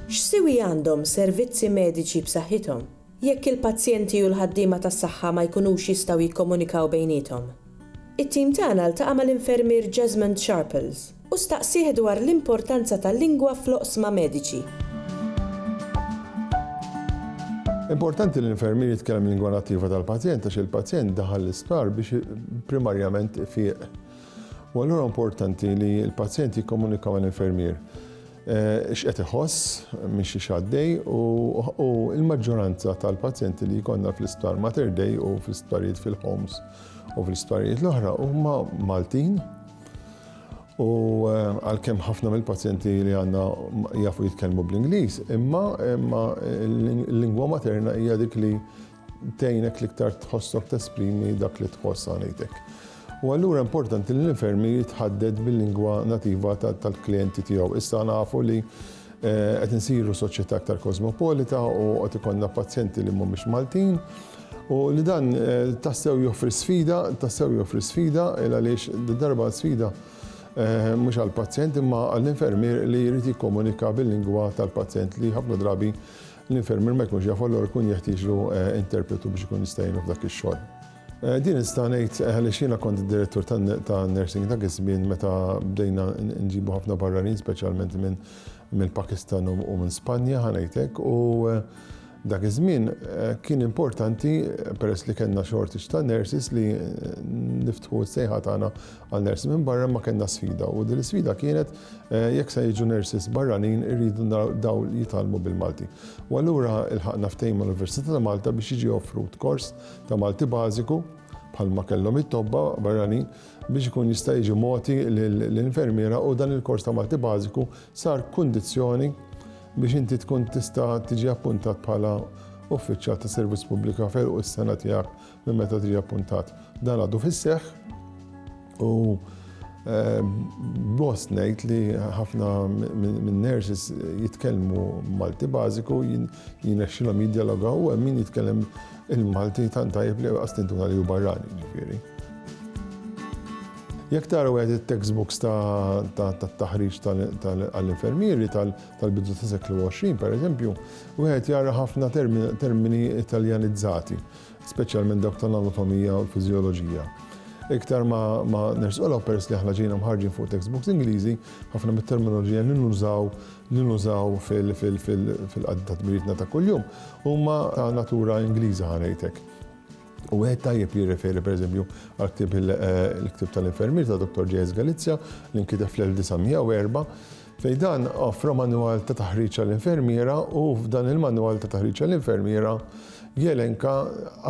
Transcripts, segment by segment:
X'siwi għandhom servizzi mediċi b'saħħithom jekk il-pazjenti u l-ħaddiema tas-saħħa ma jkunux jistgħu jikkomunikaw bejniethom? It-tim tagħna ltaqa' mal-infermier Jesmond Sharples. u staqsih dwar l-importanza tal-lingwa fl-oqsma mediċi. Importanti li l-infermier jitkellem il-lingwa nattiva tal-pazjent għax il-pazjent daħal l-isptar biex primarjament ifieq. U allura importanti li l-pazjent jikkomunika mal-infermier eh, x'qed iħoss minn xi xaddej u l-maġġoranza tal-pazjenti li jkollna fl-isptar Mater Dei u fl-isptarijiet fil-homes u fl-isptarijiet l-oħra huma Maltin U għalkemm ħafna mill-pazjenti li għandna jafu jitkellmu bl-Ingliż, imma l-lingwa materna hija dik li tgħinek l-iktar tħossok tesprimi dak li tħoss għanejtek. U allura importanti li l-infermier jitħadded bil-lingwa nativa tal-klijenti tiegħu. Issa nafu li Qed insiru soċjetà aktar kosmopolita u qed ikollna pazjenti li mhumiex Maltin u li dan tassew joffri sfida, tassew joffri sfida għaliex darba sfida mhux għall-pazjent imma għall-infermier li jrid jikkomunika bil-lingwa tal-pazjent li ħafna drabi l-infermier ma jkunx jafu allura jkun jeħtieġlu interpretu biex ikun jista' jgħinu f'dak ix-xogħol. Din nista' ngħid għaliex jiena kont id-direttur tan-nursing dak iż-żmien meta bdejna nġibu ħafna barranin speċjalment minn mill-Pakistan u minn Spanja ħa ngħid hekk u dak iż-żmien kien importanti peress li kellna shortage ta' nurses li niftħu s-sejħa tagħna għal nurses minn barra ma kellna sfida u din l-isfida kienet jekk se jiġu nurses barranin irridu dawn jitgħallmu bil-Malti. U allura ilħaqna ftehim mal-Università ta' Malta biex jiġi offrut kors ta' Malti bażiku, bħalma kellhom it-tobba barranin, biex ikun jista' jiġi mogħti lill-infermiera u dan il-kors ta' Malti bażiku sar kundizzjoni biex inti tkun tista' tiġi appuntat bħala uffiċjal ta' servizz pubblika f'għeluq is-sena tiegħek minn meta tiġi appuntat. Dan għadu fis-seħħ. U ehm, gost ngħid li ħafna minn nurses jitkellmu Malti bażiku jinexxilhom jidjalogaw u min jitkellem il-Malti tant tajjeb li għastintuna li hu barrani ġifieri. Jek taraw għed il-textbooks ta' taħriġ tal-infermieri tal-bidu ta' seklu 20, per eżempju, u għed jara ħafna termini italjanizzati. speċjalment dawk tal-anatomija u l-fiżjoloġija. Iktar ma ma nersqu l peress li aħna ġejna mħarġin fuq textbooks Ingliżi, ħafna mit-terminoloġija li nużaw li nużaw fil-qadda ta' tmirietna ta' kuljum huma ta' natura Ingliża ħanejtek. U għed tajjeb li jirreferi per eżempju għal ktib il-ktib tal-infermier ta' Dr. J.S. Galizja li nkitef fl-1904 Fejn dan offra manwal ta' taħriġ għall-infermiera u f'dan il-manwal ta' taħriġ għall-infermiera jelenka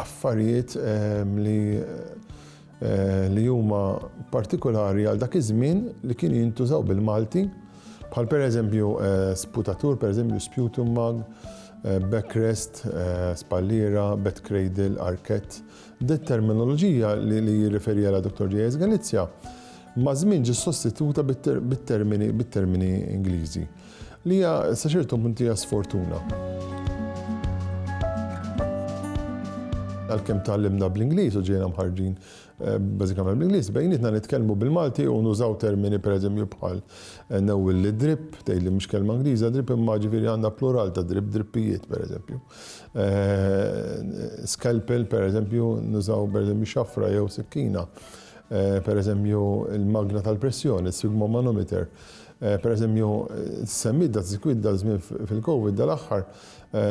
affarijiet ehm, li eh, li huma partikolari għal dak iż-żmien li kien jintużaw bil-Malti, bħal pereżempju eh, sputatur, pereżempju sputum mag, Eh, backrest, eh, spallira, bed cradle, arket. Dit terminoloġija li jirreferi għala Dr. J.S. Galizja Maż-żmien ġiet sostituta bit-termini bit-termini Ingliżi, li hija sa ċertu punt hija sfortuna. Għalkemm tgħallimna bl-Ingliż u ġejna mħarrġin bażikament bl-Ingliż, bejnietna nitkellmu bil-Malti u nużaw termini pereżempju bħal newwil li drip, tgħid li mhux kelma Ingliża drip imma ġifieri għandha plural ta' drip, drippijiet pereżempju. Scalpel pereżempju nużaw pereżempju xafra jew sikkina. per eżempju, il-magna tal-pressjoni, is-sigmomanometer. Per eżempju, semmit da sikwit dal-żmien fil-COVID dal-aħħar,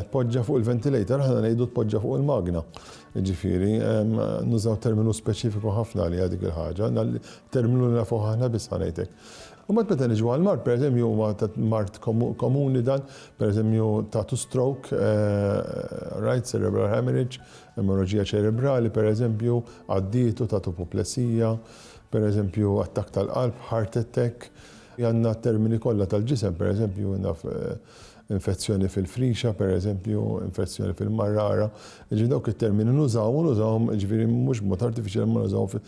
tpoġġa fuq il-ventilator, aħna ngħidu tpoġġa fuq il-magna. Ġifieri, nużaw terminu speċifiku ħafna għaliha dik il-ħaġa, terminu li nafuh aħna biss ħanejtek. U mbagħad meta niġu għall-mard, per eżempju, huwa mard komuni dan, per eżempju, tagħtu stroke, rajt, cerebral hemorrhage, Emorraġija ċerebrali, pereżempju, għaddiet u tat upoplesija, pereżempju, attakk tal-qalb, heart attack. Għandna t-termini kollha tal-ġisem, pereżempju, naf, infezzjoni fil-frixa, pereżempju, infezzjoni fil-marrara. Jiġifieri dawk it-termini nużawhom u nużawhom, jiġifieri mhux b'mod artifiċjali, imma nużawhom